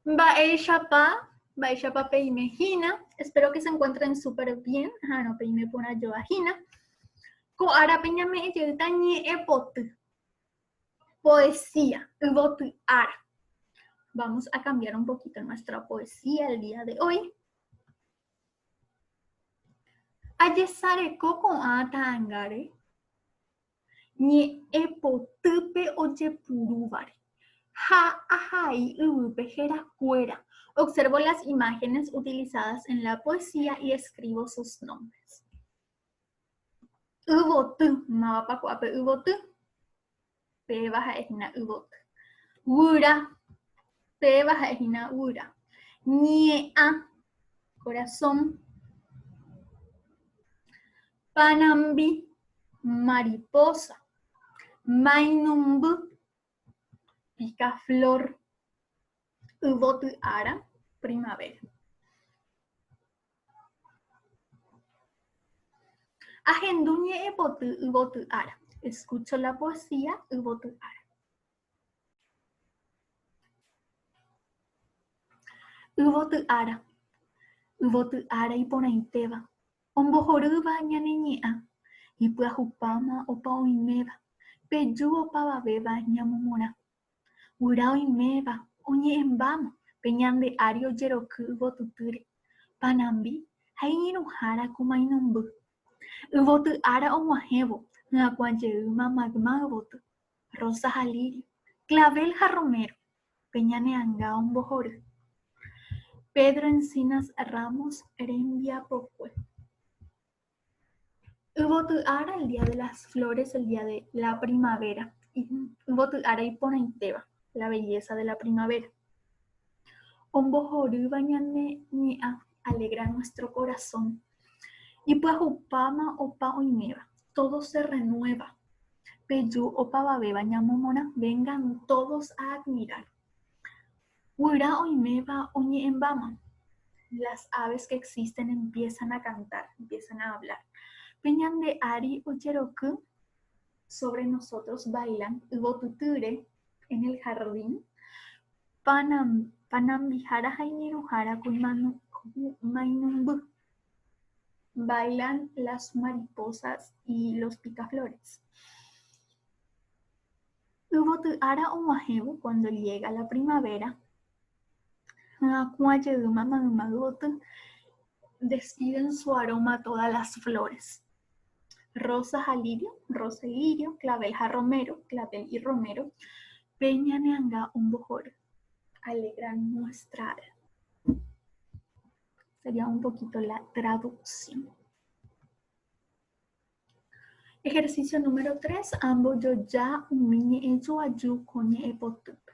Mba'éichapa, mba'éichapa peime hína, espero que se encuentren súper bien, aha'arõ peime porã joa hína. Ko árape ñame'ẽ jeýta ñe'ẽ poty, poesía, yvoty ára. Vamos a cambiar un poquito nuestra poesía el día de hoy. Ajesareko ko'ã ta'angáre, ñe'ẽ potýpe ojepurúvare, ha ahai yvýpe héra kuéra. Observo las imágenes utilizadas en la poesía y escribo sus nombres. Yvoty, mávapa ku'ápe yvoty? Péva ha'e hína yvoty. Guyra, péva ha'e hína guyra. Ñe'ã, corazón. Panambi, mariposa, mainumby, pica flor, yvoty ara, primavera. Ahendu ñe'ẽpoty yvoty ára. Escucho la poesía yvoty ára. Yvoty ára. Yvoty ára iporãitéva. Ombohorýva ñane ñe'ã, ipyahupáma opa oiméva, peju opavavéva ñamomorã. Guyra oiméva oñe'ẽmbáma pe ñande ári ojeroky yvotutýre, panambi ha iñirũhára ko mainomby. Yvoty ára og̃uahẽvo hyakuã jeýma magma yvoty, rosa ha lírio, clavel ha romero. pe ñane anga ombohory, Pedro Encinas Ramos rembiapokue. Yvoty ára el día de las flores, el día de la primavera, yvoty ára iporãitéva, la belleza de la primavera. Ombohorýva ñane ñe'ã Alegra nuestro corazón. Ipyahupáma opa oiméva. Todo se renueva. Peju opavavéva ñamomorã. Vengan todos a admirar. Guyra oiméva oñe'ẽmbáma. Las aves que existen empiezan a cantar, empiezan a hablar. Pe ñande ári ojeroky sobre nosotros bailan yvotytýre en el jardín. Panambihára ha iñirũhára kuimainunby. Bailan las mariposas y los picaflores. Yvoty ára og̃uahẽvo, cuando llega la primavera, hyakuã jeýma mayma yvoty, despiden su aroma todas las flores. Rosa ha Lirio, Rosa y Lirio, Clavel ha Romero, Clavel y Romero, pe ñane'anga ombohory. Alegran nuestra alma. Sería un poquito la traducción. Ejercicio número 3. Ambojoja umi ñe'ẽjoaju ko ñe'ẽpotýpe.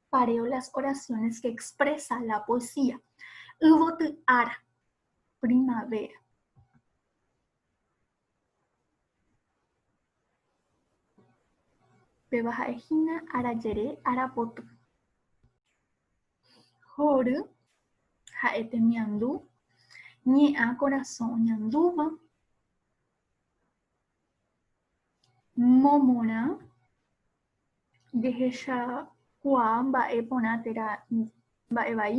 Pareo las oraciones que expresa la poesía. Yvoty ára, primavera. Péva ha'ehína arajere, arapoty. Hory ha'e temiandu, ñe'ã korasõ oñandúva. Momorã, jehechakuaa mba'e porã térã mba'e vai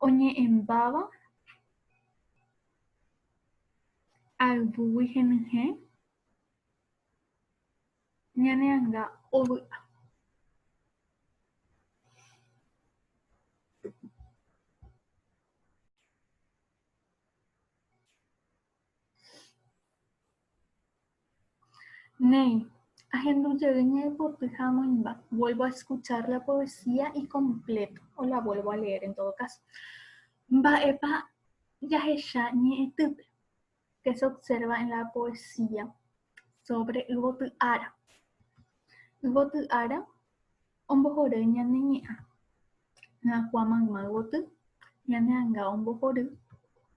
oñe'ẽmbáva ayvúgui henyhẽ ñane anga ovy'a. Néi, ahendu jey ñaipotĩ ha amoĩmba, vuelvo a escuchar la poesía y completo, o la vuelvo a leer en todo caso. Mba'épa jahecha ñe'ẽtýpe? Qué se observa en la poesía sobre yvoty ára? Yvoty ára ombohory ñane ñe'ã, hyakuã mayma yvoty, ñane anga ombohory.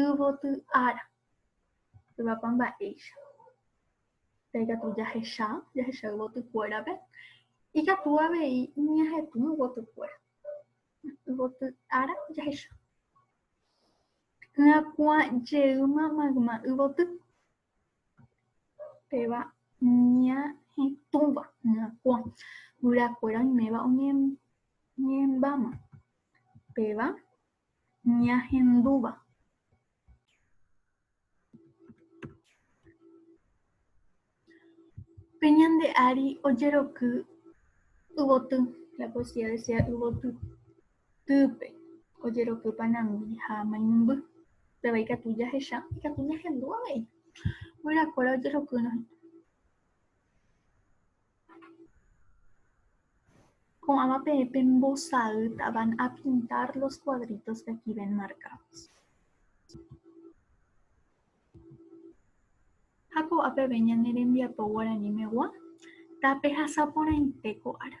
Yvoty ára, yvapa mba'éicha, pe katu jahecha, jahecha yvoty kuérape, ikatu avei ñahetũ yvoty kuéra. Yvoty ára jahecha. Yvakua jeýma mayma yvoty, péva ñahetũva, yvakua. Guyra kuéra oiméva oñembáma, péva. ñahendúva. Pe ñande ári ojeroky yvoty, la poesía desea yvoty, týpe ojeroky panangui ha mainumby, péva ikatu jahecha ikatu ñahendu avei. Guyrakóra ojerokýrõ hína. Ko'ãva pe pembosa'ýta van a pintar los cuadritos que aquí ven marcados. Ha ko'a peve ñane rembiapo guaranimegua tapehasa porãite ko ára.